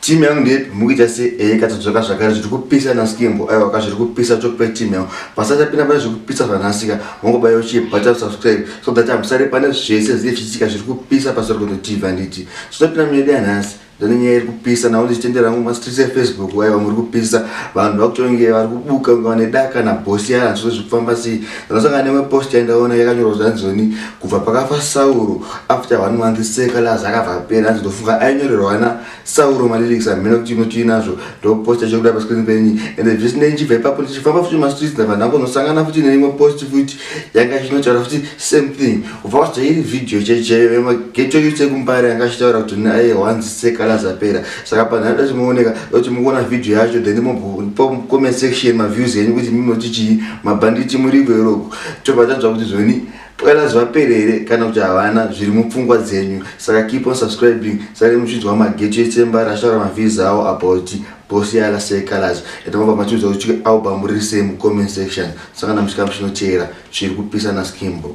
Team yangu ndepi mukuita se eh katodzoka zvakare zviri kupisa na skimbo aiwa ka zviri kupisa talk pe team yangu pasati apinda pane zviri kupisa zvanasika mongobaya uchi bata subscribe so that I'm sorry pane zvese zviri zvichitika zviri kupisa pasori kuno TV anditi tinopinda mune dai nhasi ndine nyaya iri kupisa nawo ndichitendera mu streets e Facebook aiwa muri kupisa vanhu vakutonge vari kubuka ngavane daka na boss yana zviri kufamba sei Ndakasangana nemwe post yandaona yakanyorwa zvanzoni kubva pakafa Sauro after one month seka lazi akabva apera hanzi ndofunga ainyorerwa ana Sauro malyrics hamhena kuti inotii nazvo ndoposta chokuda pascreen penyu ende zvisinei ndichibva ipapo ndichifamba futi mastreets ndabva ndangonosangana futi neimwe post futi yanga ichinotaura futi same thing kubva wazva iri video checheyo emageto yose kumbare yanga ichitaura kuti naye hanzi seka lazi apera saka panhari dati mooneka doti mukuona video yacho then mopo comment section maviews enyu kuti mimoti chii mabhanditi murigo iroko tobva tanzwa kuti zvoni pwela zvapere here kana kuti havana zviri mupfungwa dzenyu saka keep on subscribing sare muchinzwa mageto etsemba rashara mavhizi awo about bosi yala sekalaz yatamabva matiudza kuti album riri sei mucomment section saka namuchikamu chinoteera zviri kupisa naskimbo